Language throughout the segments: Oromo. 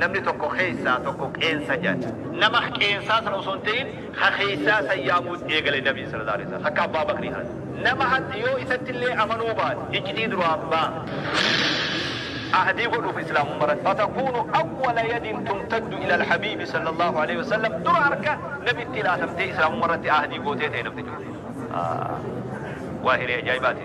Namni tokko keessaa tokko qeensa jedha. Nama qeensaa san osoo hin ta'in ka keessaa san yaamuu eegale Nabiin sallallaahu aleeyhi wasalaam. Akka Abbaa Bakrii kana. Nama hatti yoo isatti illee amanuu baate iccitii duraan baafte. Ahdii godhuuf Islaamumma irratti. Fatakuunu awwala yadin tumtaddu ilal habiibi sallallaahu aleeyhi wasallam dura harka Nabitti laatamtee Islaamumma irratti ahdii gootee ta'e namtichi kun. Haa. Waa hiree ajaa'ibaati.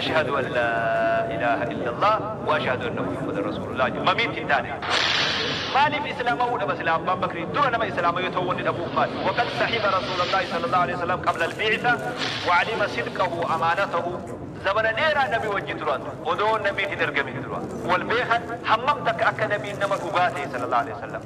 Ashahadu an la ilaha illallah wa ashahadu anna Muhammadan rasulullah jedhu mamiitti hin taane. Maaliif islaama'uu dhaba silaa abbaan bakrii dura nama islaama yoo ta'uu wanni dhabuuf maali? Waqad sahiba rasuulallahi sallallahu aleyh wasallam qabla albi'itha wa alima sidqahu amaanatahu Zabana dheeraa nabi wajji turan odoo nabiin hin ergamin dura wal beekan hammam takka akka nabiin nama dhugaa ta'e sallallahu aleyh wasallam.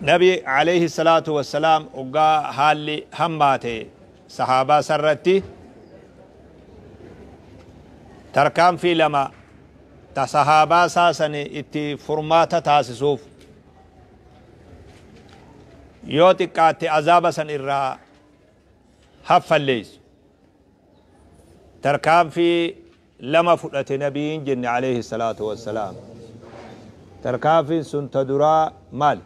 nabi alayhi salaatu wassalaam oggaa haalli hammaate sahaabaa sarratti tarkaanfii lama ta sahaabaa isaa sani itti furmaata taasisuuf yoo xiqqaatte azaaba san irraa haffalleessu tarkaanfii lama fudhate nabiin jenne aleyhi salaatu wassalaam. Tarkaanfin sun ta duraa maali?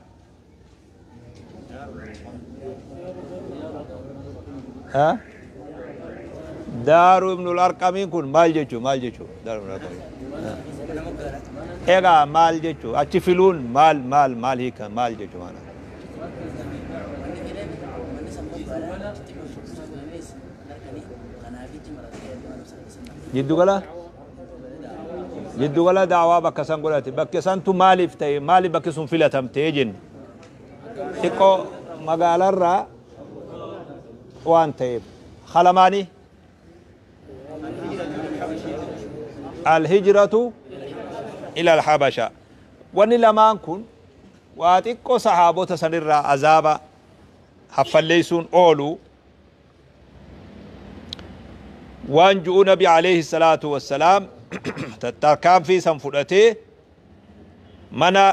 Ha? Daaru ibnul arqamiin kun maal jechuu maal jechuu daaru ibnul arqamiin. Egaa maal jechuu achi filuun maal maal maal hiika maal jechuu maana. Jiddugala Jiddugala da'awaa bakka san godhate bakke santu maaliif ta'e maaliif bakki sun filatamte jenne xiqqoo magaalarraa waan ta'eef halamaanii alhijratu ila alhabasha wanni lamaan kun waa xiqqoo sahaabota sanirraa azaaba haffalleeysuun ooluu waan ju'u nabi alayhi salaatu wassalaam tattarkaanfii san fudhatee mana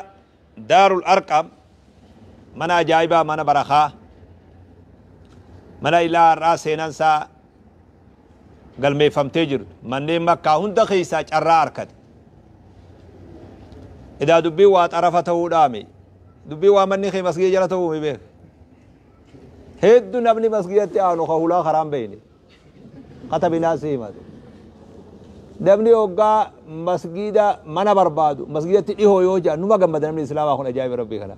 daarul arqam mana ajaa'ibaa mana barakaa mana ilaa har'aa seenan isaa galmeeffamtee jiru manneen makkaa hunda keessaa carraa arkate idaa dubbii waa xarafa ta'uudhaami dubbii waa manni kee masgii jala ta'uu mi beeka Heddu namni masgidatti aanu ka hulaa karaan beeyne. Kata binaa si himate. Namni hoggaa masgida mana barbaadu masgidatti dhihoo yoo jaan numa gammada namni islaamaa kun ajaa'iba rabbii kana.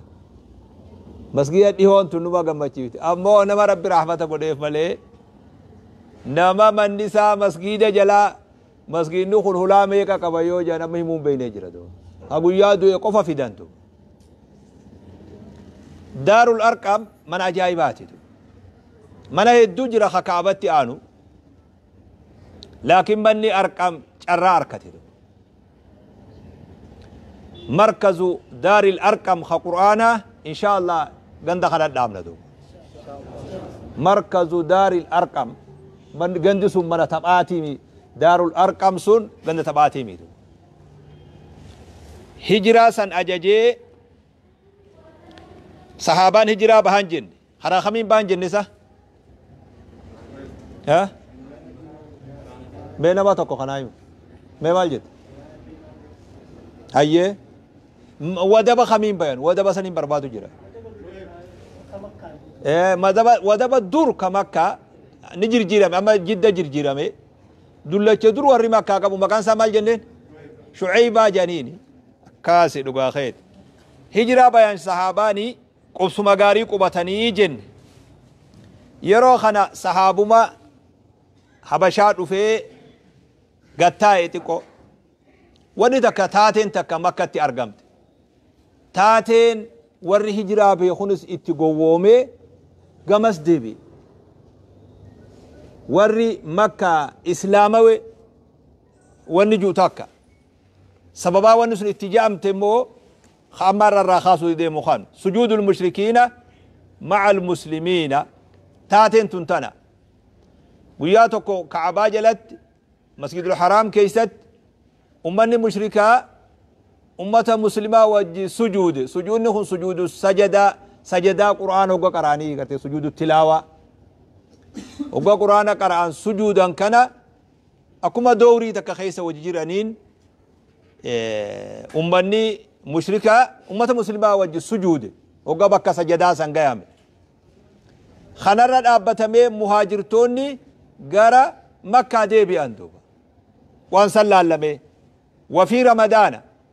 Masgida dhihoon tun numa gammachiifti. Ammoo nama rabbi rahmata godheef malee nama manni isaa masgida jalaa Masgiidni kun hulaa meeqa qaba yoo jedhan amma himuun beeknee jira doo. Ha guyyaa du'e qofa fidantu. Daarul Arqam mana ajaa'ibaati. Mana hedduu jira ka Kaabatti aanu. Laakiin manni Arqam carraa harkate. markazu daaril arqam ka qur'aanaa inshaa allah ganda kana dhaabna duuba markazu daaril arqam Man- gandi sun mana taphaatiimi daarul arqam sun ganda taphaatiimi duuba hijiraa san ajajee sahaabaan hijiraa bahan jenne Haraa kamiin baan jenne isa? Eh? Mee nama tokko kanaa himu. Mee maal jette? Hayyee. M- Wadaba kamiin bayan? Wadaba saniin barbaadu jira. Eh, madaba wadaba dur ka makka ni jirjiirame amma jidda jirjiirame dullacha dur warri makkaa qabu maqaan isaa maal jenneen shuceybaa janiini akkaasi dhugaa keeti hijiraa bayan sahaabaa ni Qubsuma gaarii qubatanii jenne. Yeroo kana sahaabuma Habashaa dhufee gad taa'e xiqqoo. Wanni takka taateen takka Makkatti argamte. Taateen warri hijiraa bahe kunis itti gowwoomee gamas deebi'e. Warri Makkaa Islaamawe wanni jiru takka. Sababaa wanni sun itti ja'amte immoo Ka amma har'a irraa kaasuu deemu kan. Sujuudul mushrikiina ma'al muslimiina. Taateen tun tana. Guyyaa tokko Ka'abaa jalatti Masjidul Haraam keessatti ummanni mushrikaa ummata muslimaa wajji sujuude. Sujuudni kun sujuudu sajadaa sajadaa Qur'aana hogga qaraanii gartee sujuudu tilaawaa. Hogga Qur'aana qara'an sujuudan kana Akkuma dowrii takka keessa wajji jiraniin ummanni mushrikaa ummata muslimaa wajji sujuude hogga bakka sajadaa san gayame. Kanarra dhaabbatamee muhaajirtoonni gara makkaa deebi'an duuba. Waan san laallamee. Wafii ramadaana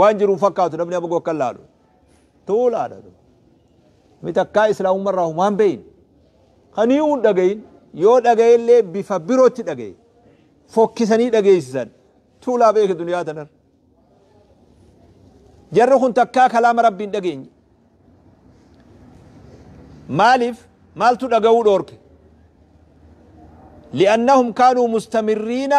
waan jiru hin fakkaatu namni amagoo akka hin laalu tuulaadha namni takkaa islaamummaa irraa humaan beeyin kan hiyuu hin dhagayin yoo dhagaye illee bifa birootti dhagaye fokkisanii dhageessisan tuulaa beeke duniyaa tanar jarri kun takkaa kalaama rabbii hin dhageenye maaliif maaltu dhaga'uu dhoorke li'annahum kaanuu mustamiriina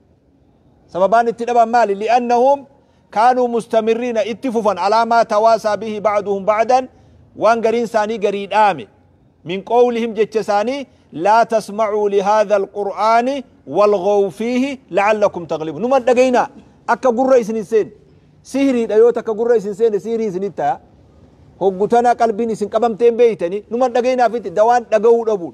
Sababaan itti dhaban maali? Li'annahum kaanuu mustamirriina itti fufan alaa maa tawaasaa bihi ba'duhum ba'dan waan gariin isaanii garii dhaame min qowlihim jecha isaanii laa tasma'uu lihaadha alqur'aani walghaw fiihi la'allakum taglibuun numa dhagayinaa akka gurra isin hin seene sihriidha yoo takka gurra isin seene sihrii isinitti ta'a hoggu tana qalbiin isin qabamtee hin beeytanii numa dhagayinaaf itti dawaan dhaga'uu dhabuun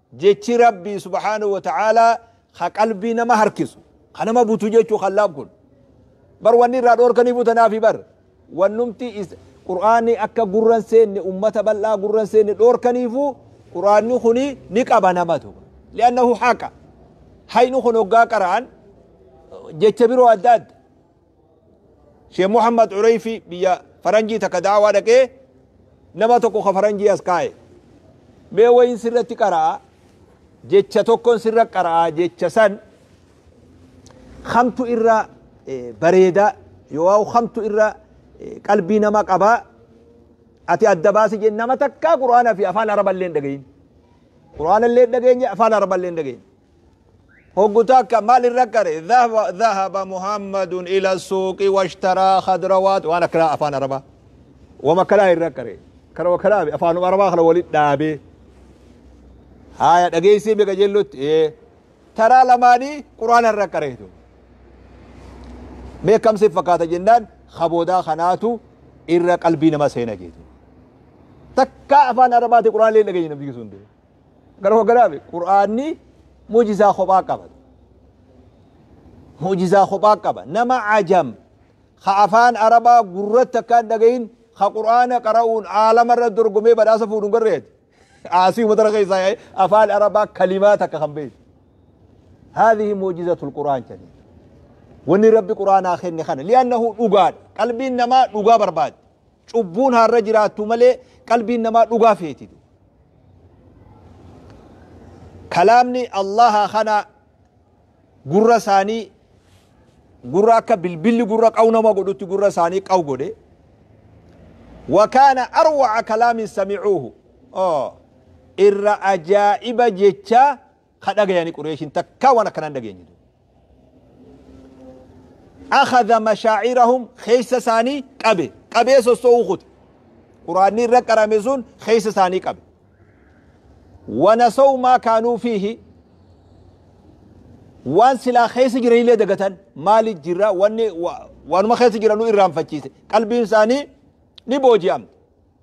Jechi Rabbii subhaanahu wa ta'aalaa ka qalbii nama harkisu, ka nama butu jechuu kallaam kun. Bar wanni irraa dhoorkaniifuu tanaafi bar. Wannumti is, Qur'aanni akka gurra hin seenne, ummata bal'aa gurra hin seenne dhoorkaniifuu Qur'aanni kuni ni qaba namatu. Li'annahu haqa. Hayni kun hoggaa qara'an jecha biroo adda adda. Sheikh Muhammad Ureyfi biyya faranjii takka da'awaa dhaqee nama tokko ka faranjii as kaa'e. Mee wayin sirratti qara'a jecha tokkon sirra qara'a jecha san kamtu irra bareeda yoo kamtu irra qalbii nama qaba ati adda baasi jeen nama takkaa qur'aana fi afaan araballee hin dhagayin. Qur'aana illee hin dhageenye afaan araballee hin dhageenye. Hoggu takka maal irra qare? Dhahaba Muhammadun ila suuqi washtaraa khadrawaat waan akkanaa afaan arabaa wama akkanaa irra qare kana wakkanaa be afaanuma arabaa kana walit dhaabee haya dhageessii be qajeellotti ee taraa lamaanii quraana irra qareetu mee kamsi fakkaata jennaan kaboodaa kanaatu irra qalbii nama seena jeetu takkaa afaan arabaati quraana illee dhageenye namni sun Gara koo galaame qur'aanni mu'jizaa kophaa qaba. Mu'jizaa kophaa qaba. Nama ajam ka afaan arabaa gurratti akka hin dhagahin ka qur'aana qara'uun aalama irra dorgomee badhaasa fuudhu hin garreeti. Aasii umatara keessaa yaa'ee afaan arabaa kalimaa takka kan beeku. Haadhihi mu'jizatul qur'aan jedhani. Wanni rabbi qur'aanaa kenne kana li'annahu dhugaadha. Qalbiin namaa dhugaa barbaaddi. Cubbuun haa irra jiraattuu malee qalbiin namaa dhugaa feeti duuba. Kalaamni Allaahaa kana gurra isaanii gurra akka bilbilli gurra qawu nama godhutti gurra isaanii qawu godhe. Wakaana arwaca kalaamin samicuuhu. Irra ajaa'iba jechaa ka dhagayani qureeshin takkaa waan akkanaa hin dhageenye duuba akhadha mashaacirahum keessa isaanii qabe qabee sosso'uu kute quraanni irra qarame sun keessa isaanii qabe wanasaw maa kaanuu fiihi waan silaa keessa jiranillee dagatan maali jirra wanni waanuma keessa jiranu irraanfachiise qalbiin isaanii ni booji'amte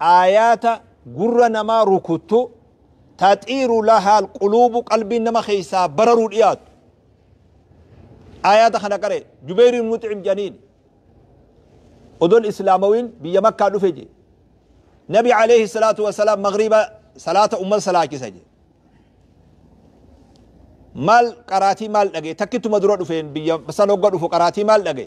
aayaata gurra namaa rukuttu, taxiiru lahaa alquluubu qalbiin nama keessaa bararuu dhiyaattu. Aayaata kana qare Jubeeyr ibn Mux'im jedhaniin odoon islaamawin biyya makkaa dhufe je nabi alayhi salaatu wasalaam magriiba salaata umman salaachisa je maal qaraatii maal dhage takkittuma dura dhufeen biyya san hogga dhufu qaraatii maal dhage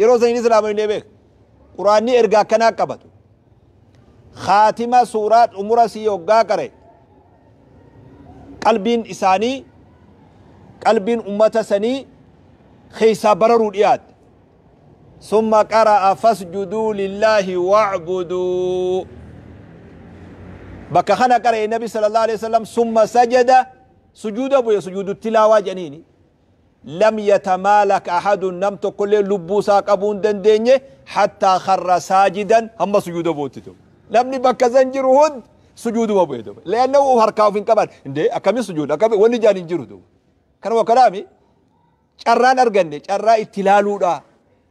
yeroo saniin islaamani ne beeka quraanni erga akkanaa qabatu khaatima suuraa xumura sii hoggaa qare qalbiin isaanii qalbiin ummata sanii keessaa bararuu dhiyaatte summa qara'a fasjuduu lillaahi wacbuduu bakka kana qara'e nabi sallallahu alaihi wasallam summa sajada sujuuda bu'e sujuudu tilaawaa jedhaniini lam yatamaalak ahadun nam tokkolleen lubbuu isaa qabuu hin dandeenye hattaa kharra saajidan hamma sujuuda bu'utti ture. Namni bakka san jiru hundi sujuuduma bu'e duuba. Li'annahu of harkaa of hin qaban. Indee akkami sujuuda akkami wanni jaan hin jiru duuba. Kanuma kanaami carraan arganne carraa itti ilaaluudha.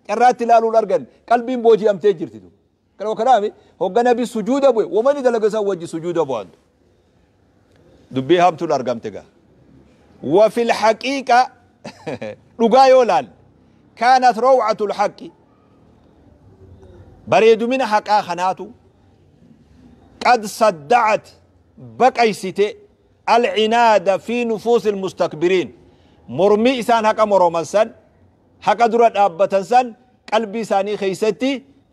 Carraa itti ilaaluudha arganne qalbiin booji'amtee jirti duuba. Kana kanaaf hogga nabi sujuuda bu'e womani dalage san wajji sujuuda bu'an du. Dubbii hamtuun argamte ga. Wa fil haqiiqa dhugaa yoo laal kaanat raw'atul haqqi bareedumina haqaa kanaatu qad sadda'at baqaysite alcinaada fi nufuusi almustakbiriin mormii isaan haqa moroman san haqa dura dhaabbatan san qalbii isaanii keeysatti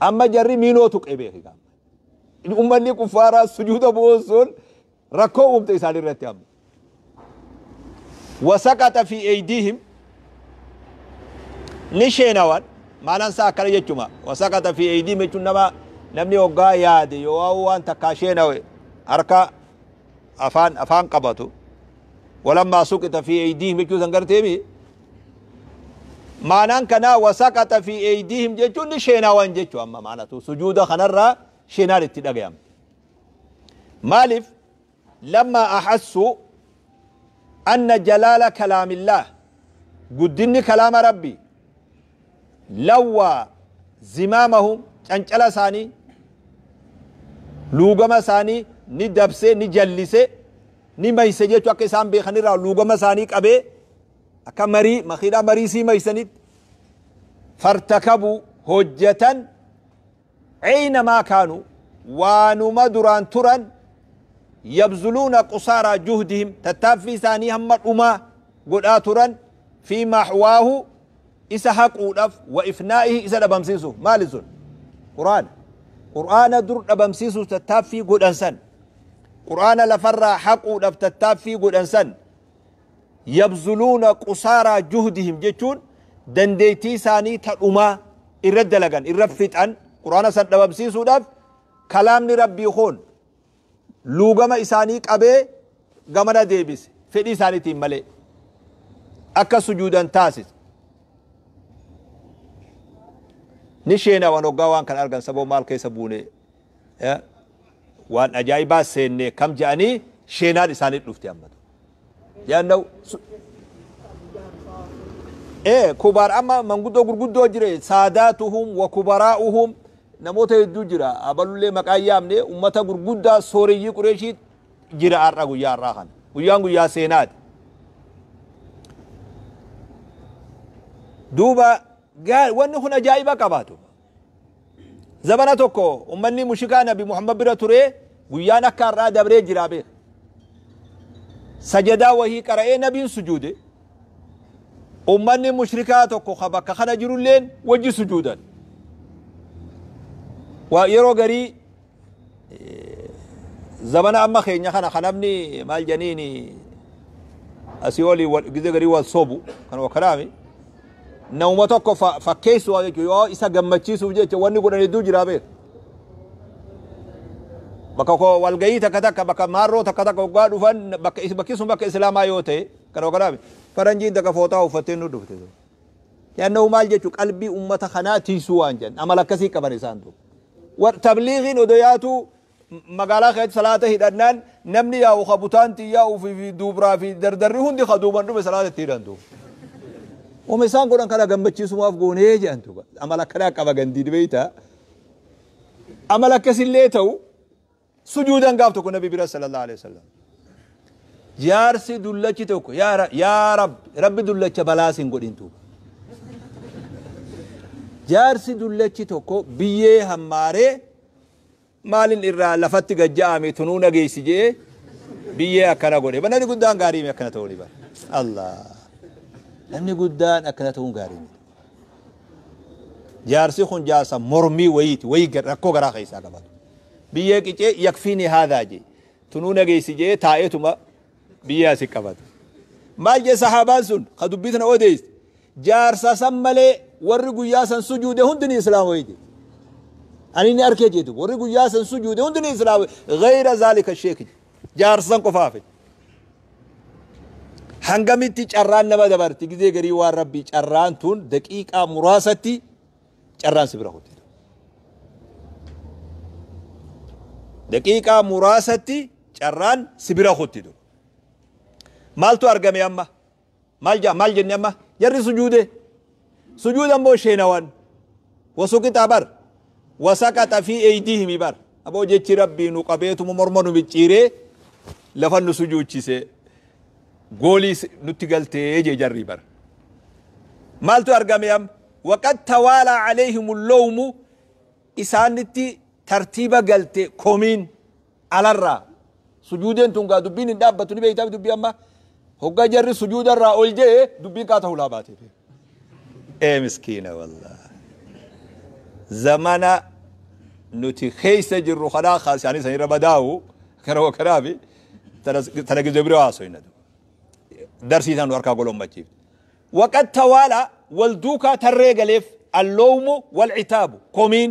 Amma jarri miinoo tuqee beeki gaamma. Ummanni kuffaaraa sujuuda bu'uun sun rakkoo uumte isaan irratti amma. Wasaqaxa fi eeydiihim ni sheenawan maalan isaa akkana jechuma wasaqaxa fi eeydiihim jechuun nama namni hoggaa yaade yoo waan takkaa sheenawe harka afaan afaan qabatu walammaa suqita fi eeydiihim jechuu san garteemi maanaan kanaa wasaqaxa fi eeydiihim jechuun ni sheenaawan jechu amma maanatu sujuuda kanarraa sheenaan itti dhagayamte maaliif lammaa ahassu anna jalaala kalaamillaah guddinni kalaama rabbi lawwaa zimaamahum cancala isaanii luugama isaanii ni dabsee ni jallise ni mayse jechu akka isaan beekanirraa luugama isaanii qabee Akka marii makiinaa marii sii maysanitti fartakabu hojjatan ceyna maa kaanu waanuma duraan turan yabzuluuna qusaaraa juhdihim tattaaffii isaanii hamma dhumaa godhaa turan fi maxwaahu isa haquudhaf wa ifnaa'ihi isa dhabamsiisuuf maali sun quraana quraana dur dhabamsiisuuf tattaaffii godhan san quraana lafarraa haquudhaf tattaaffii godhan san yabzuluuna qusaaraa juhdihim jechuun dandeettii isaanii ta dhumaa irra dalagan irra fixan quraana san dhabamsiisuudhaaf kalaamni rabbii kun luugama isaanii qabee gamana deebise fedhii isaaniitiin malee akka sujuudan taasise ni sheenawan hoggaa waan kan argan saboo maal keessa buunee waan ajaa'ibaa seennee kam jedhanii sheenaan isaanii dhufte amma jedhan ee kubaar amma manguddoo gurguddoo jire saadaatuhum wa kubaraa'uhum namoota hedduu jira abalullee maqaa yaamne ummata gurguddaa sooreyyii qureeshii jira har'a guyyaa har'aa kana guyyaan guyyaa seenaati duuba wanni kun ajaa'iba qabaatu Zabana tokko ummanni mushikaa Nabi Muhammad bira turee guyyaan akka har'aa dabree jiraa beeka. Sajadaa wahii qara'ee Nabiin sujuude. Ummanni mushrikaa tokko ka bakka kana jirulleen wajji sujuudan. Waa yeroo garii Zamana amma keenya kana kan namni maal janiini asii olii wal- gizee garii wal sobu kan wakalaami namuma tokko fa- fakkeessu waan jechuudha yoo isa gammachiisuuf jecha wanni godhan hedduu jira beeku. Bakka koo walgahii takka takka bakka maarroo takka takka waggaa dhufan bakka is- bakki sun bakka islaamaa yoo ta'e kan wakalaami faranjiin takka fooxaa uffattee nu dhufte. Li'annahu maal jechu qalbii ummata kanaa tiysuu waan jedhan amala akkasii qaban isaan duuba. War tabliigiin odo yaatuu magaalaa keessatti salaata hidhannaan namni yaa'u ka butaan tiyyaa ufii fi duubraa fi dardarri hundi ka duuban dhume salaata itti hidhan duuba. Wama isaan godhan kana gammachiisumaaf goonee jedhan duuba. Amala akkanaa qaba gandiin beeytaa. Amala akkasillee ta'u sujuudan gaaf tokko nabi bira sallallahu alaihi wasallam jaarsi dullachi tokko yaa Ra- yaa rabbi rabbi dullacha balaas hin godhin tuuba jaarsi dullachi tokko biyyee hammaaree maalin irraa lafatti gajja'ame tunuu nageessi jee biyyee akkana godhe namni guddaan gaarii mi akkana ta'uu ni bara allah namni guddaan akkana ta'uun gaarii miti Jaarsi kun jaarsa mormii wayiiti, wayii gar- rakkoo garaa keessaa qaba. Biyyee qicee yakfiini haadaa jee. Tunuu nageessi jee taa'eetuma biyyee asi qabata. Maal jee sahaabaan sun ka dubbii tana odeessi. Jaarsa san malee warri guyyaa san sujuude hundi ni islaama wayii jee. Ani ni arkee jeetu warri guyyaa san sujuude hundi ni islaama gayra zaalika sheeki. Jaarsa san qofaaf. Hangamitti carraan nama dabarti gizee garii waan rabbii carraan tun daqiiqaa muraasatti carraan si bira kutte. Daqiiqaa muraasatti carraan si bira kutte. Maaltu argame amma? Maal ja'a maal jenne amma jarri sujuude sujuuda immoo sheenawan wasuqixaa bar wasaqaxa fi eeydiihimi bar aboo jechi rabbii nu qabeetuma morma nu micciiree lafa nu sujuuchise goolii nutti galtee jee jarrii bar maaltu argame amma waqad tawaalaa caleehimu lowmu isaanitti tartiiba galte komiin alarraa sujuudeen tun gaa dubbiin hin dhaabbattu ni beeytaaf dubbii amma hoggaa jarri sujuudarraa ol je'e dubbiin kaa ta'ulaa baateef ee miskiina wallah zamana nuti keessa jirru kanaa kaa isaanii sanirra badaa'u kana wakanaafi tana gizee bira haasoyna darsii isaan nu harkaa golommachiif waqad tawaala wal duukaa tarree galeef alloomu wal citaabu komiin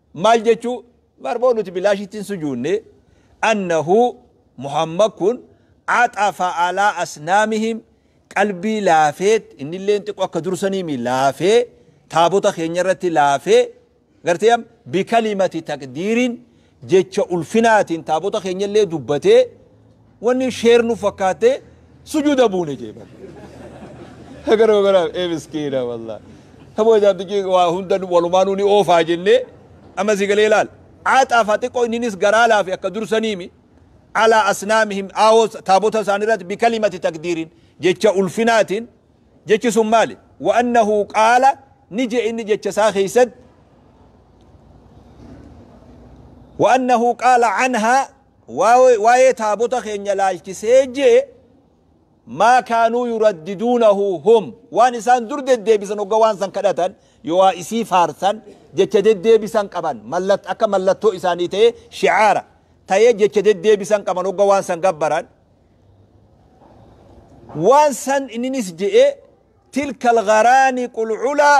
maal jechuu barmoo nuti bilaashitti hin sujuunne annahu muhammad kun axafa alaa asnaamihim qalbii laafeet innilleen xiqqoo akka dursaniimi laafee taabota keenya irratti laafee gartee am bikalimati taqdiirin jecha ulfinaatiin taabota keenya illee dubbatee Wanni share nu fakkaate sujuuda buune jee bar. Garuu garuu ee miskiina wallah. Taboo jaabtichi waa hunda walumaanuu ni oofaa jennee amma si galee laal. Aaxaa faa xiqqoo inninis garaa laafe akka dursaniimi. Alaa asnaamihim aawoo taabota isaanii irratti bikalimati takdiirin jecha ulfinaatiin jechi sun maali? Wa annahu qaala ni je inni jecha isaa keessatti wa annahu qaala anhaa Waa'ee taabota keenya ilaalchisee J. Maa kaanuu yuraddiduunahu hum waan isaan dur deddeebisan ogga waan san kadhatan yooaa isii faarsan jecha deddeebisan qaban akka mallattoo isaanii ta'ee shi'aara ta'ee jecha deddeebisan qaban ogga waan san gabbaran waan san inninis je'ee tilka algharaaniqul culaa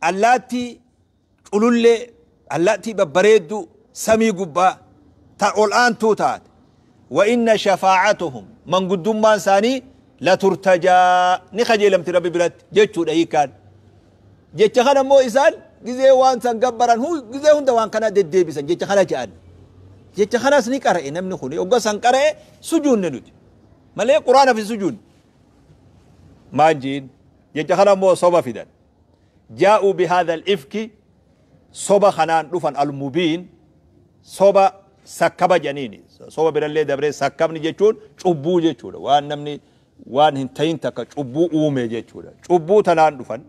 Allaattii culullee, allaattii babbareedduu, samii gubbaa, ta ol aantuu taate. Wa inna shafaacatuhum, manguddummaan isaanii, la turtajaa, ni kajeelamti Rabbi biratti, jechuu dha hiikkaan. Jecha kana immoo isaan gizee waan san gabbaran, gizee hunda waan kana deddeebisan, jecha kana ja'an. Jecha kanas ni qara'e namni kun, ogga san qara'e sujuunne nuti. Malee Quraanaf hin sujuunne. Maal jiin? Jecha kana immoo soba fidan. jaa'uu bihaadhal ifki soba kanaan dhufan almubiin soba sakkaba janiini soba birallee dabree sakkabni jechuun cubbuu jechuudha waan namni waan hin ta'in takka cubbuu uume jechuudha cubbuu tanaan dhufan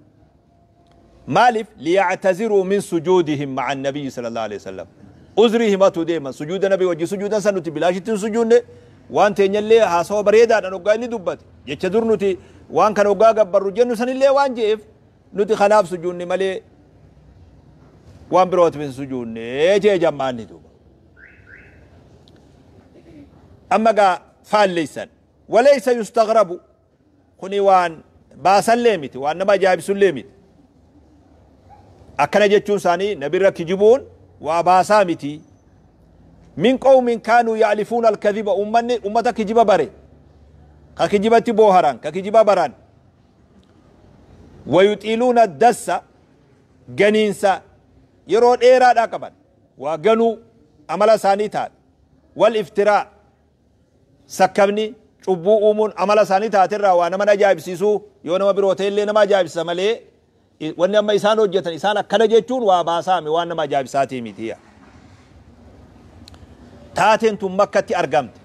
maaliif liyactaziruu min sujuudihim maca nabiyyi sala allahu alehi wasalam uzrii himatu deeman sujuuda nabi wajji sujuudan san nuti bilaashitti hin sujuunne waan teenyallee haasawa bareedaadhan oggaa inni dubbate jecha dur nuti waan kana oggaa gabbarru jennu sanillee waan je'eef nuti kanaaf sujuunne malee waan birootiif hin sujuunne jee jammaanni duuba. Amma gaa faalleessan waleessa yustagrabu kuni waan baasallee miti waan nama ajaa'ibsullee miti. Akkana jechuun isaanii nabirra kijibuun waa baasaa miti. Min qawmin kaanuu ya'lifuuna al-kadhiba ummanni ummata kijiba bare ka kijibatti booharan ka kijiba baran wayuxiiluuna ad-dassa ganiinsa yeroo dheeraadhaa qaban waa ganuu amala isaanii taate wal iftiraa sakkabni cubbuu uumuun amala isaanii taate irraa waa nama ajaa'ibsiisuu yoo nama biroo ta'e illee nama ajaa'ibsisa malee Wanni amma isaan hojjatan, isaan akkana jechuun waa baasaa mi? Waan nama ajaa'ibsaatii miti. Taateen tun Makkatti argamte.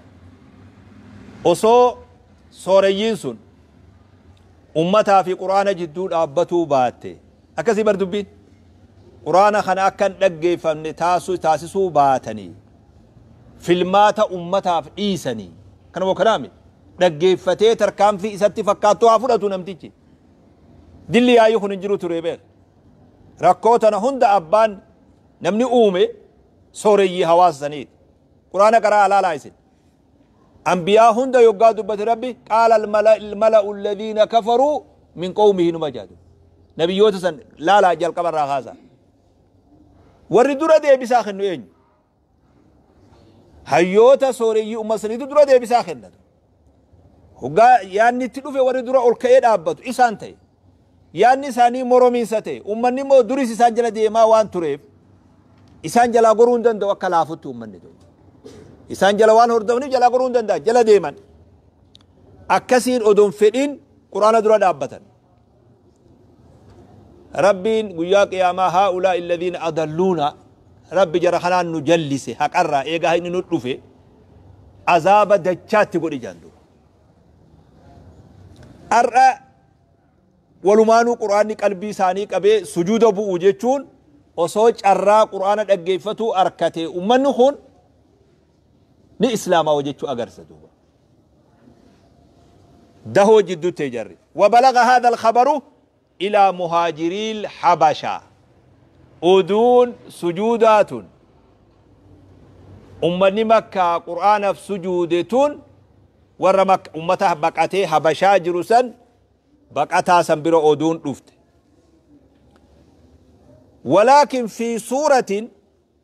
Osoo sooreyyiin sun ummataa fi Qur'aana jidduu dhaabbatuu baatte. Akkasii bar dubbiin. Qur'aana kana akka hin dhaggeeffamne taasisuu taasisuu baatanii filmaata ummataaf dhiisanii kanuma kanaa mi? Dhaggeeffatee tarkaanfii isatti fakkaattu haa fudhatu namtichi. Dilli yaa'ii kun hin jiru ture beer. Rakkoo tana hunda abbaan namni uume sooreyyii hawaasa saniiti. Quraana qaraa alaalaa isin. Ambiyaa hunda yoggaa dubbate rabbi qaala almala'u alladhiina kafaruu min qawmihi numa jaadu. Nabiyyoota san laalaa jalqabarraa haasaa. Warri dura deebisaa kennu eenyu? hayyoota sooreyyii ummata saniitu dura deebisaa kennata. Hoggaa yaanni itti dhufe warri dura ol ka'ee dhaabbatu isaan ta'e. Yaanni isaanii moromiinsa ta'e. Ummanni immoo duris isaan jala deemaa waan tureef isaan jalaa goruu hin danda'u akka laafutti ummanni ta'u. Isaan jala waan hordofniif jalaa goruu hin danda'an jala deeman. Akkasiin odoon fedhiin quraana dura dhaabbatan. Rabbiin guyyaa qiyaamaa haa'ulaa'i alladhiina adalluuna Rabbi jara kanaan nu jallise haqarraa eega haqni nu dhufe azaaba dachaatti godhi jedhan duuba. Har'a walumaanuu quraanni qalbii isaanii qabee sujuuda bu'u jechuun osoo carraa quraana dhaggeeffatuu arkate ummanni kun ni islaamaawa jechuu agarsiisa duuba. dahoo jidduu ta'e jarri wabalaga haadha alkhabaru ilaa muhaajiriil habasha oduun sujuudaa tun ummanni makkaa qur'aanaf sujuude tun warra makka ummata baqatee habashaa jiru san baqataa san bira oduun dhufte walaakin fi suuratin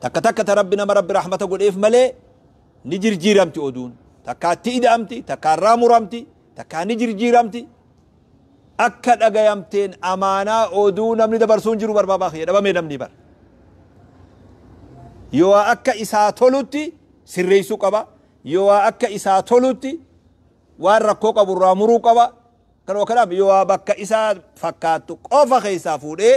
takka takka ta rabbi nama rabbi rahmata godheef malee ni jirjiiramti oduun takkaa itti ida'amti takkaa irraa muramti takkaa ni jirjiiramti akka dhagayamteen amaanaa oduu namni dabarsuun jiru barbaabaa kiyya dhabamee namni bar yoo akka isaa tolutti sirreessuu qaba yoo akka isaa tolutti waan rakkoo qabu irraa muruu qaba kan yoo bakka isaa fakkaattu qofa keessaa fuudhee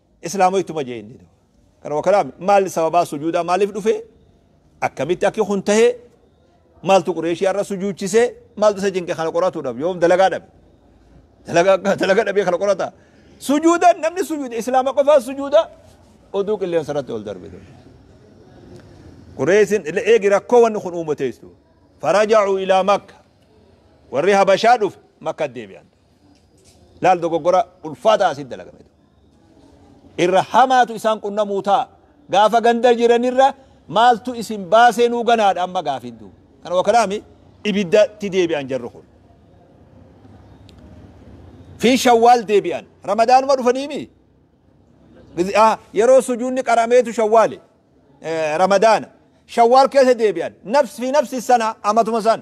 Islaama ittuma jee inni duuba. Kanuma kalaami maalli sababaa sujuudaa maaliif dhufee akkamitti akki kun tahee maaltu qureeshii har'a sujuuchisee maaltu isa cinqe kana qoratuudhaaf yoom dalagaa dhabe. Dalagaa akka dalagaa dhabee kana qorata. Sujuuda namni sujuuda islaama qofaa sujuuda oduu qilleensa irratti ol darbe. Qureeshin eegi rakkoo wanni kun uumateessu. Faraja'u ilaa makka. Warri habashaa dhufe makka deebi'an. Laal dogoggora ulfaataa asitti dalagame ta'u. Irra hamaatu isaan qunnamuu ta'a. Gaafa ganda jiranirra maaltu isin baasee nuu ganaadha amma gaafiin duuba. Kana wakalaami ibiddatti deebi'an jarri kun. Fi shawwaal deebi'an. Ramadaanuma dhufaniimi. Gizi- ah, Yeroo sujuunni qarameetu shawwaali. Eh, Ramadaana. Shawwaal keessa deebi'an. Nafs fi nafsi sana amatuma san.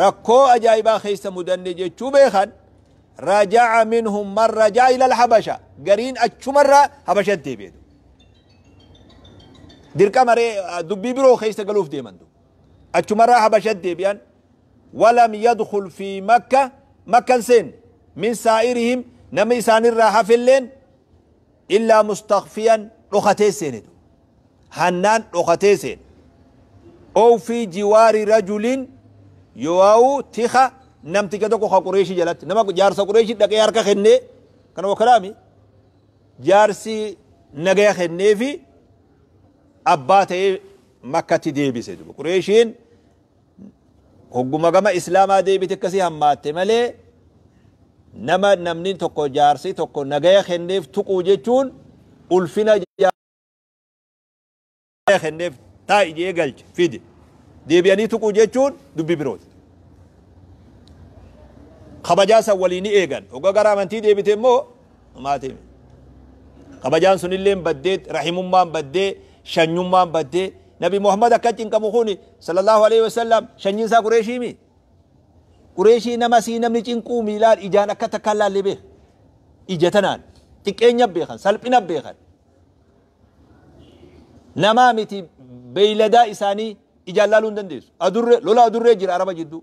rakkoo ajaa'ibaa keessa mudanne jechuu beekan raja'a minhum man raja'a ilal habasha gariin achumarraa habashatti deebi'e dirqama ree dubbii biroo keessa galuuf deeman du achumarraa habashatti deebi'an walam yadkhul fi makka makkan seen min saa'irihim nama isaanirraa hafelleen Illaa mustakfiyan dhokatee seene duuba. Hannaan dhokatee seene. Ow fii jiwaari rajulin yoauu tika namticha tokko ka Qureeshii jalatti. Nama jaarsa Qureeshii dhaqee harka kennee kana wakalaami jaarsi nagaya kennee fi abbaa ta'ee makkatti deebise duuba. Qureeshiin Hogguma gama Islaamaa deebite akkasii hammaatte malee nama namni tokko jaarsi tokko nagaya kenneef tuquu jechuun ulfina jaarsa kenneef taa'i jee galche fide deebi'anii tuquu jechuun dubbi birooti. Kabajaa san walii ni eegan. Hogga gara amantii deebite immoo Maatiin kabajaan sunilleen baddee rahimummaan baddee shanyummaan baddee nabi Muhammad akka cinqamu kun sallallahu alaihi wasallam shanyiin isaa qureeshii mi qureeshii nama sii namni cinquu miilaan ijaan akka takkaan laallee beeka ija tanaan xiqqeenya beekan salphina beekan namaa miti beeyladaa isaanii ijaan laaluu hin dandeessu adurree lola adurree jira araba jidduu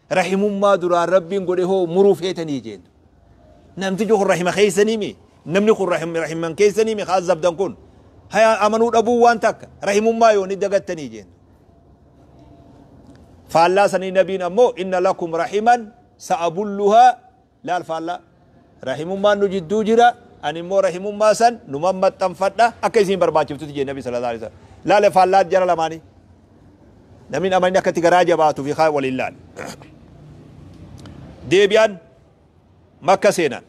Rahimummaa duraan Rabbiin godhe hoo muruu feetanii jeen. Namtichi kun rahima keessanii mi? Namni kun rahim- rahiman keessanii mi? Haa zabdan kun. Haya amanuu dhabuu waan takka. Rahimummaa yoo ni dagattanii jeen. Faallaa sanii nabiin ammoo inna lakum rahiman sa'abulluhaa Laal faallaa. Rahimummaan nu jidduu jira, ani immoo rahimummaa san numan maxxanfadha, akka isiin barbaachiftutti jee Nabi Sallallaahu Aleyhi Wasallama. Laale faallaa jara lamaanii. Namni hin amanin akka itti garaa jabaatu fi kaan waliin laale. Deebi'an Makka seenan.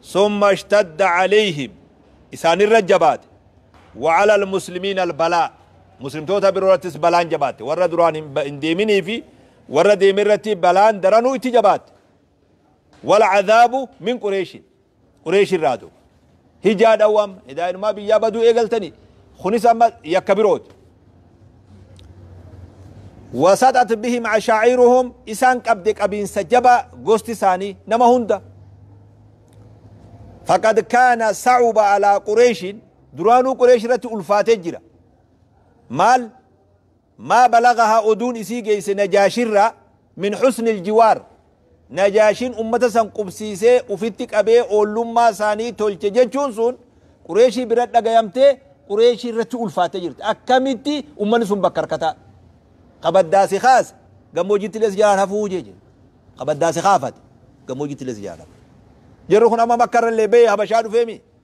Summa ishtadda aleyhim. Isaanirra jabaate. Wa ala al-muslimiina al-balaa. Muslimtoota biroo irrattis balaan jabaatte. Warra duraan hin ba- hin deeminii fi Warra deeme irratti balaan daranuu itti jabaatte. Wal-cadaabu min Qureeshin. Qureesh irraa duuba. Hijaa dhawwa amma. Edaa inumaa biyyaa baduu eegaltanii. Kunis amma yakka birooti. Wasaxat bihim ashaa'iruhum isaan qabde qabiinsa jabaa gosti isaanii nama hunda. Faqad kaana sa'uba alaa Qureeshin duraanuu Qureesh irratti ulfaatee jira. Maal? Maa balaghahaa oduun isii geeyse Najaashirraa min husnil jiwaar Najaashiin ummata san qubsiisee ufitti qabee oollummaa isaanii tolche jechuun sun Qureeshii bira dhagayamtee Qureeshii irratti ulfaattee jirti akkamitti ummanni sun bakka harkataa ka baddaa si kaase gammoojjittilee si jalaan hafuu jee jee ka baddaa si kaafate gammoojjittilee si jalaan hafuu jarri kun amma makka irrallee bahee habashaa dhufee mii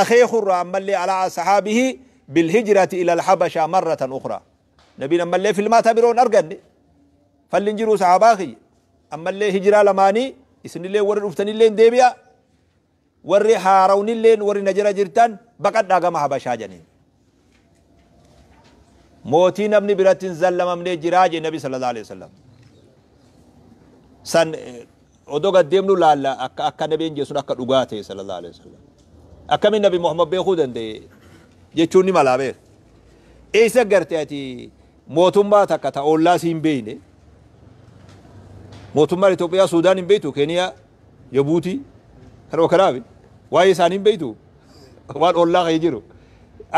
akeeku irraa ammallee ala ashabihi bilhijrati ilal habasha marratan ukhraa nabiin ammallee filmaata biroo hin arganne falli hin jiruu sahabaa kiyya ammallee hijraa lamaanii isinillee warri dhuftanillee deebi'a warri haarawnillee warri na jira jirtan baqadhaa gama habashaa janiin mootii namni biratti hin zallamamnee jiraa jee nabi sallallahu alaihi wasallam san odoo gad deemnu laalla akka akka nabiin jee sun akka dhugaa ta'e sallallahu alaihi wasallam akkamiin nabi muhammad beekuu danda'e jechuun ni malaa beeka eessa garte ati mootummaa takka ta ollaa si hin beeyne mootummaan Itoophiyaa Suudaan hin beektu Keeniyaa Jabuutii kan Okaraabi waa'ee isaanii hin beektu waan ollaa kee jiru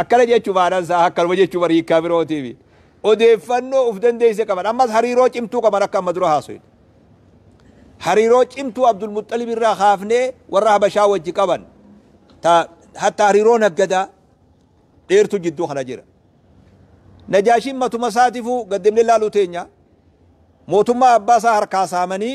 akkana jechuu maanaan isaa akkanuma jechuu bar hiikkaa birootiifi odeeffannoo uf dandeesse qaban ammas hariiroo cimtuu qaban akka amma dura haasofne hariiroo cimtuu Abdul Muxxalib irraa kaafnee warra Habashaa wajji qaban ta hatta hariiroo naggadaa dheertu jidduu kana jira Najaashiin matuma isaatifuu gaddemne laaluu teenya mootummaa abbaa isaa harkaa saamanii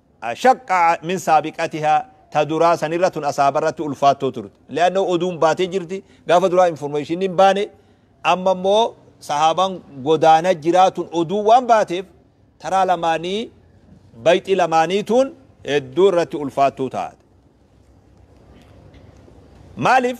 ashaqqa min saabiqatiha ta duraa sanirra tun asaabarratti ulfaattoo turte li'annahu oduun baatee jirti gaafa duraa information hin baane amma immoo sahaabaan godaana jiraa tun oduu waan baateef taraa lamaanii bayxii lamaanii tun hedduu irratti ulfaattuu taate maaliif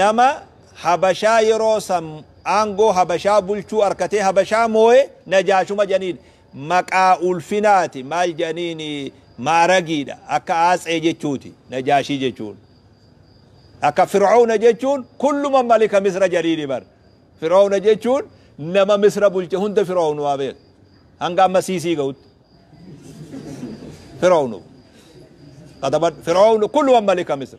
nama habashaa yeroo san aangoo habashaa bulchuu arkatee habashaa mooye najaashuma jedhaniin maqaa ulfinaati maal jedhaniin maaragiidha akka aatsee jechuuti najaashii jechuun akka fir'aawna jechuun kulluma malika misra jedhiini bar fir'aawna jechuun nama misra bulche hunda fir'aawnu waa beeka hanga amma siisii ga'utti fir'aawnu katabadhu fir'aawnu kulluma malika misra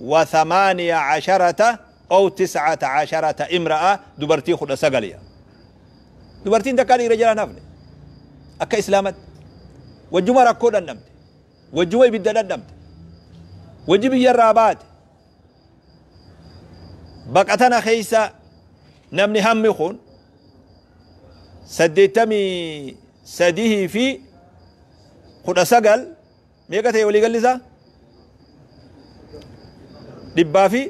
wa thamaaniya casharata aw tiscata casharata imra'a dubartii kudha sagal ya dubartiin takkaa dhiira jalaan hafne akka islaamatti wajjuma rakkoo dhandhamte wajjuma ibidda dhandhamte wajji biyya irraa baate baqa tana keessa namni hammi kun saddeettamii sadihii fi kudha sagal Meeqa ta'e walii galli isaa? Dhibbaa fi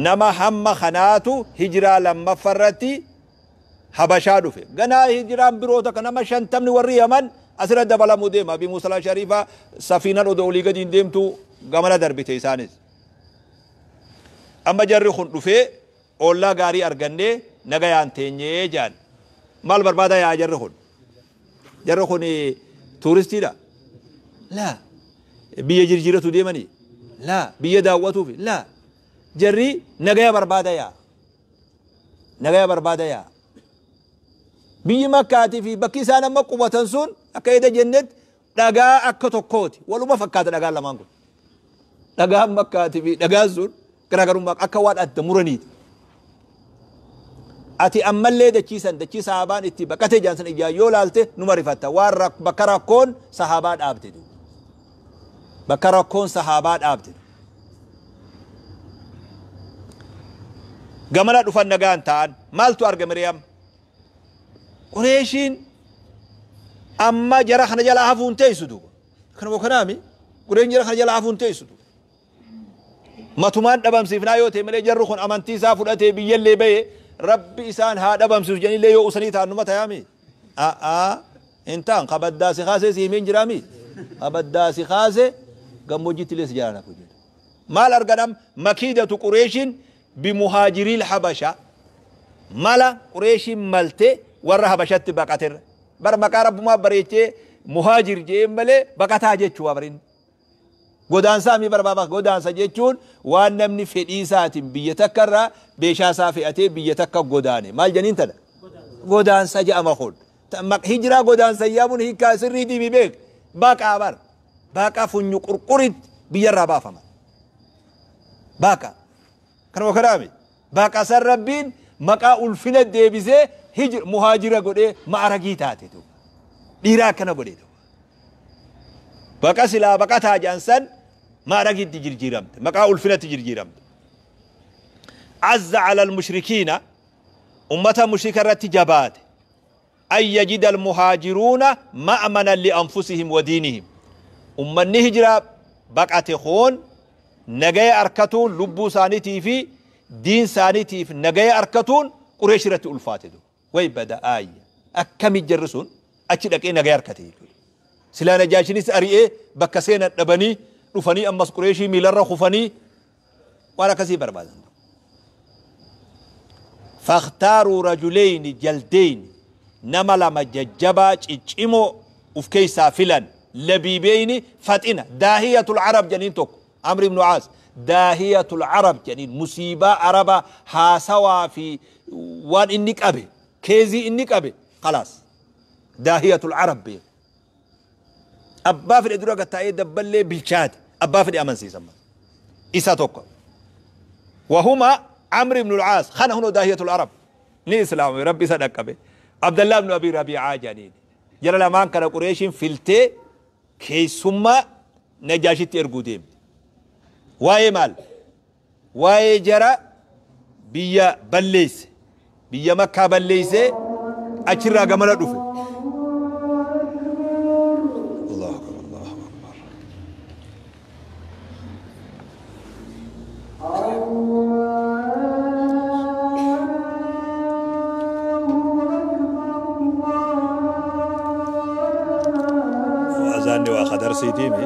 nama hamma kanaatu hijiraa lammaffa irratti Habashaa dhufe. Ganaa hijiraan biroo takka nama shantamni warri Yaman asirra dabalamuu deema. Abi Muusalaa Shariifaa safiinan odoo olii gadiin deemtu gamana darbite isaanis. Amma jarri kun dhufee Ollaa gaarii argannee nagayaan teenye jedhan. Maal barbaadaa yaa'a jarri kun? Jarri kun tuuristiidha? Laa. Biyya jirjiiratu deemani? Laa. Biyya daawwatuufi? Laa. Jarri nagaya barbaada yaa'a. Nagaya barbaada yaa'a. Biyyi Makkaatii fi bakki isaan amma qubatan sun akka eda jennetti dhagaa akka tokkooti. Waluma fakkaata dhagaan lamaan kun. Dhagaan makkaati fi dhagaan sun garaagarummaa akka waan adda muraniiti. Ati ammallee dachiisan dachii sahaabaan itti baqatee jiran sana ijaan yoo laalte numa rifatta waan rak- bakka rakkoon sahaabaa dhaabde. duuba. Bakka rakkoon sahaabaa dhaabde. Gamana dhufan nagaan ta'an maaltu arga Miriyaam? Qureeshiin amma jara kana jalaa hafuu hin teessu duuba. Kanuma kanaami Qureen jara kana jalaa hafuu hin teessu duuba. Matumaan dhabamsiifnaa yoo ta'e malee jarri kun amantii isaa fudhatee biyyallee bahee rabbi isaan haa dhabamsiisu jedhanillee yoo usanii ta'an numa tayaami. A'aa hin ta'an kabaddaa si kaasee si himeen jiraami. Kabaddaa si kaase gammoojjiitti illee si jalaan hafu jedha. Maal argadham makiidatu Qureeshiin bimuhaajiriil habashaa mala qureeshiin malte warra habashatti baqaterra bar maqaa rabbumaa bareechee muhaajir je'een malee baqataa jechuu bar inni godaansaa mii barbaaba godaansa jechuun waan namni fedhii isaatiin biyya takka irraa beeshaa isaa fe'atee biyya takka godaane maal janiin tana godaansa ja'ama kun hijiraa godaansa yaamuun hiikaa sirrii diimi beek baqaa bar baqa funyu qurquritti biyyarraa baafama Baaqa. Kanuma kanaami. Baaqa san Rabbiin maqaa ulfina deebisee hijr muhaajira godhee ma'aragii taate duuba. Dhiiraa akkana godhe duuba. Baqa silaa baqataa jedhan san ma'aragitti jirjiiramte. Maqaa ulfinatti jirjiiramte. Azza alal mushrikiina ummata mushrika irratti jabaate. an yajida almuhaajiruuna ma'manan li'anfusihim wa diinihim ummanni hijraa baqate kun nagaya arkatuun lubbuu isaanitii fi diin isaanitiif nagaya arkatuun Qureesh irratti ulfaate du way bada aayya akkami jarri sun achi dhaqee nagaya arkate jechuudha silaa najaashinis ari'ee bakka seenan dhabanii dhufanii ammas Qureeshii miilarra kufanii waan akkasii barbaadan faktaaruu rajuleyni jaldeyni nama lama jajjabaa ciccimoo uf keessaa filan labiibeyni faxina daahiyatul arab janiin tokko amri ibnu aas daahiyatul arab janiin musiibaa araba haasawaa fi waan inni qabe keezii inni qabe kalaas daahiyatul arab beeku Abbaa fedhe dura gattaa'ee dabballee bilchaate abbaa fedhe amansiisa. Isa tokko. Wahuma Amr ibn al-Aas kana hunoo daahiyatul Arab ni islaamame rabbi isa dhaqqabe. Abdallaa ibn Abi Rabi'aa jedhaniin. Jara lamaan kana Qureeshiin filtee keessummaa Najaashitti erguu deemte. Waa'ee maal? Waa'ee jara biyya balleesse, biyya Makkaa balleessee achirraa gamana dhufe. Allahu Akbar, Allahu Akbar. Azaanni waa kadarsiitiimi.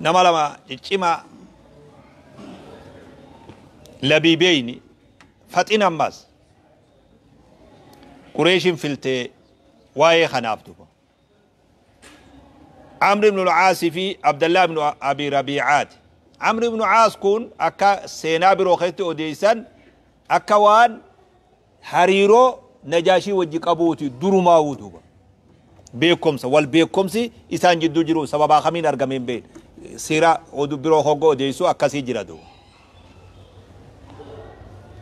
nama lama ciccimaa labiibeyni faxin ammaas qureeshin filtee waa'ee kanaaf duba amri ibnu lcaasi fi abdallah ibnu abi rabiicaati amri ibnu caas kun akka seenaa biroo keessatti odeeysan akka waan hariiroo najaashii wajji qabuuti durumaawuu duuba beekomsa wal beekomsi isaan jidduu jiru sababaa kamiin argame hin beekne seera oduu biroo hogga odeessu akkasii jira duuba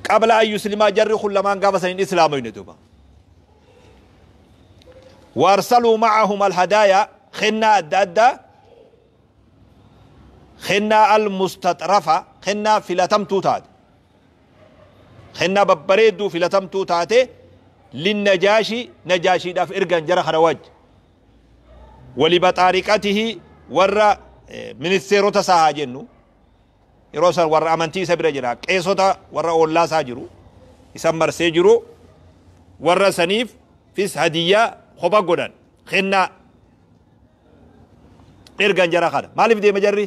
qabla an yuslimaa jarri kun lamaan gaafa san hin islaamoyne duuba waarsaluu macahum alhadaaya kennaa adda addaa kennaa almustaxrafa kennaa filatamtuu taate kennaa babbareedduu filatamtuu taate linnajaashi najaashiidhaaf ergan jara kana wajji walibaxaariqatihi warra ministeerota isaa haa jennu yeroo san warra amantii isa bira jira qeesota warra oollaa isaa jiru isan marsee jiru warra saniif fis hadiyyaa kopha godhan kennaa ergan jara kana maaliif deema jarri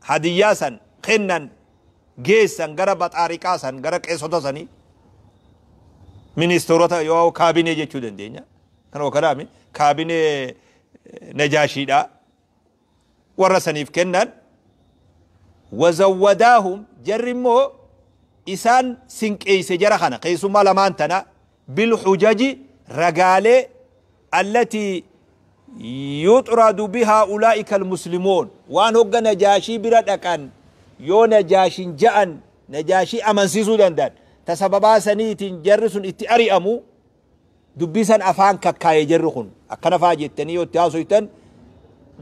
hadiyyaa san, kennan, geessan gara baxaariqaa san, gara qeesota sanii, ministeerota yoo kaabinee jechuu dandeenya. Kanuma kanaami kaabinee eh, najaashiidhaa warra saniif kennan wazawwadaahum jarri immoo isaan sinqeeyse jara kana keessummaa lamaan tana bilhujaji ragaalee allatii yuxradu bihaa ulaa'ikal muslimoon waan hogga najaashii bira dhaqan yoo najaashin ja'an najaashii amansiisuu danda'an ta sababaa saniitiin jarri sun itti ari'amu dubbii san afaan kakkaaye jarri kun akkana faa jettanii yoo itti haasoytan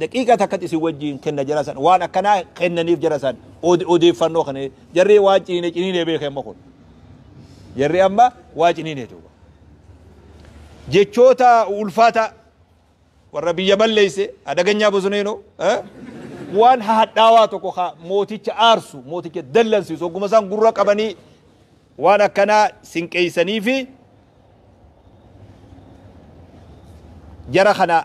Daqiiqaa takkatti isin wajjiin kenna jara san waan akkanaa kennaniif jara san ode- odeeffannoo kana jarri waan ciniine ciniine beeke amma kun jarri amma waa ciniine duuba jechoota ulfaataa warra biyya balleesse adaganyaa bosoneenoo eh? waan hadhaawaa tokko ka mooticha aarsu mooticha dallansiisu ogguma isaan gurra qabanii waan akkanaa sinqeeysanii fi jara kana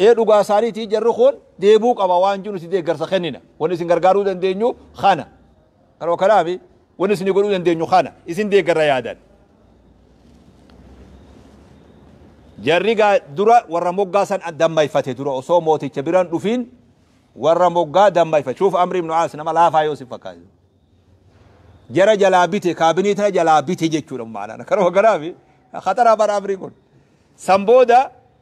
Ee dhugaa isaaniitii jarri kun deebuu qaba waan jiru si deeggarsa kennina. Wanni isin gargaaruu dandeenyu kana. Kanuma kanaafi wanni isin godhuu dandeenyu kana. Isin deeggarra yaadan. Jarri gaa dura warra moggaa san dammayfate dura osoo mooticha biraan dhufiin warra moggaa dammayfate. Shuuf Amri ibn Aas nama laafaa yoo isin fakkaate. Jara jalaa bite kaabinii tana jalaa bite jechuudha maanaan. Kanuma kanaafi khatara bara Amri kun. San booda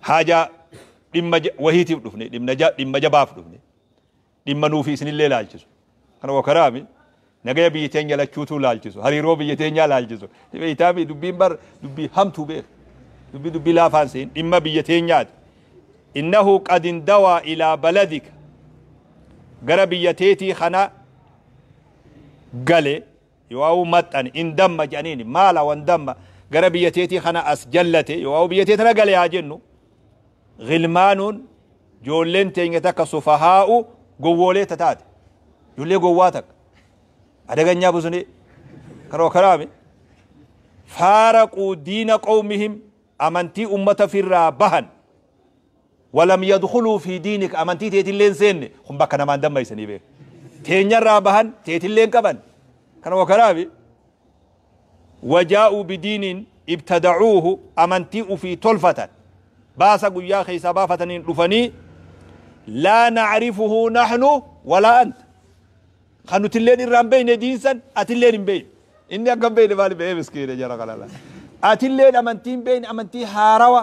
haajaa dhimma ja- wahiitiif dhufne dhimma ja- dhimma jabaaf dhufne dhimma nuufi isinillee laalchisu kana wakaraami nagaya biyya teenya lachuutuu laalchisu hariiroo biyya teenyaa laalchisu beeytaami dubbiin bar dubbii hamtuu beeku dubbii dubbii laafaan seen dhimma biyya teenyaati innahu qad indawaa ilaa baladika gara biyya teetii kana gale Yowaawuu maxxane, in damma jedhaniini. Maala wan damma gara biyya teetii kana as jallate, yowaawuu biyya tee tana gale haa jennu. Ghilmaanuun joolleen teenya takka sufahaa'u gowwoolee ta taate. Joollee gowwaa takka. Adaganyaa busnee. Karoo karaame. Faaraquu diina qawmihim amantii ummata firraa bahan. Walam yadkhuluu fii diinika amantii teetillee hin seenne kun bakka namaa hin dammaysanii bee teenyarraa bahan teetillee hin qaban kanuma kanafi wajaa'uu bidiinin ibtada'uuhu amantii ufii tolfatan baasa guyyaa keessaa baafataniin dhufanii laa na'rifuhu nahnu walaa anta kan nutilleen irraa hin beeyne diinsan atilleen hin beeyne inni akka hin beeyne maali beeyee miskiine jara kanala atilleen amantii hin beeyne amantii haarawa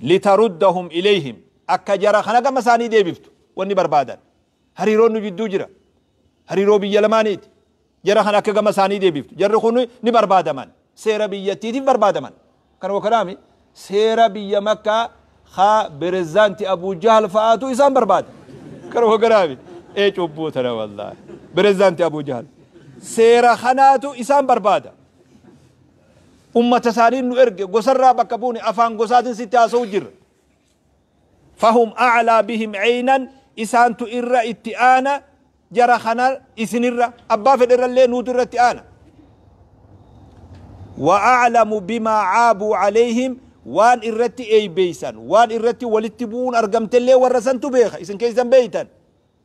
litaruddahum ilayhim akka jara kana gama isaanii deebiftu wanni barbaadan hariiroon nu jidduu jira hariiroo biyya lamaaniiti jara kana akka gama isaanii deebiftu jarri kun ni barbaadaman seera biyyattiitiif barbaadaman kan wakanaami seera biyya makkaa haa berezidaanti abuu jahal fa'aatu isaan barbaada kan wakanaami ee cubbuu tana wallaahi berezidaanti abuu jahal seera kanaatu isaan barbaada Ummatasaaniin nu erge, gosarraa bakka buune, afaan gosaatiin sitti haasa'u jirra. Fahum a'laa bihim 'aynan Isaantu irra itti aana jara kana isinirra, abbaa fedherrallee nuutu irratti aana. Wa a'lamu bimaa 'aabuu 'alayhim Waan irratti eeybeeysan, waan irratti walitti bu'uun argamtellee warra santu beeka, isin keessan beeytan.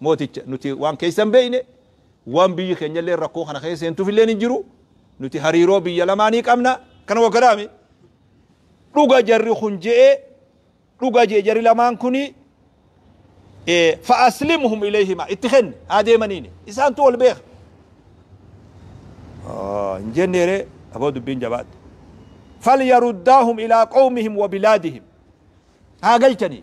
mooticha, Nuti waan keessa hin beekne, waan biyyi keenya illee rakkoo kana keessa seentuuf illee hin jiru. Nuti hariiroo biyya lamaanii qabna. Kana wakkataa mi? Dhuga jarri kun je'e, dhuga je'e jarri lamaan kuni fa'aslimhum ilayhima itti kenni haa deemaniini isaantu wal beeka hin jenneere aboo dubbiin jabaatte falyaruddaahum ilaa qawmihim wa bilaadihim haa galchanii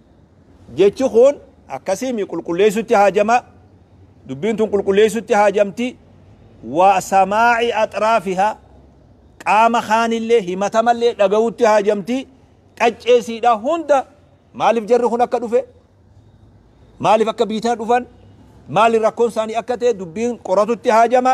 Jechi kun akkasii mi qulqulleessutti haajama, dubbiin tun qulqulleessutti haajamti, wa samaa'i axraafihaa qaama kaanillee himatamallee dhagawutti haajamti, qaccee siidhaa hunda maaliif jarri kun akka dhufe, maaliif akka biitana dhufan, maali rakkoon isaanii akka ta'e dubbiin qoratutti haajama.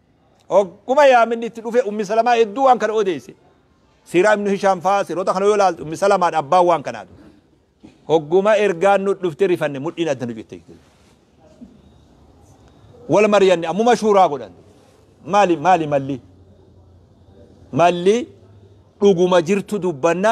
Hogguma yaaminni itti dhufe Ummi Salamaa hedduu waan kana odeesse. Siiraa Ibnu Hishaam fa'aa siroota kana yoo ilaaltu Ummi Salamaadha abbaan waan kanaa ture. Hogguma ergaan nu dhufte rifanne mudhiin adda nu citte. Wal mari'anne ammuma shuuraa godhan. Maali maali malli? Malli dhuguma jirtu dubbanna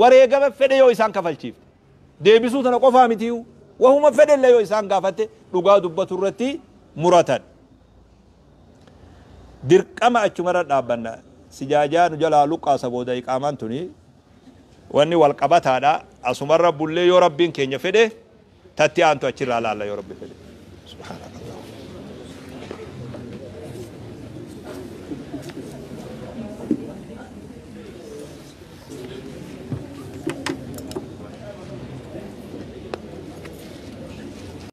wareegama fedhe yoo isaan kafalchiifte deebisuu tana qofaa mitiiyuu wahuma fedhellee yoo isaan gaafatte dhugaa dubbatu irratti muratan. Dirqama achumarra dhaabbanna. Sijaajaa nu jalaa luqqaasa booda iqaamaan tuni wanni wal qabataadha. Asumarra bullee yoo Rabbiin keenya fedhe tatti aantu achirraa laalla yoo rabbi fedhe subhaanaka allah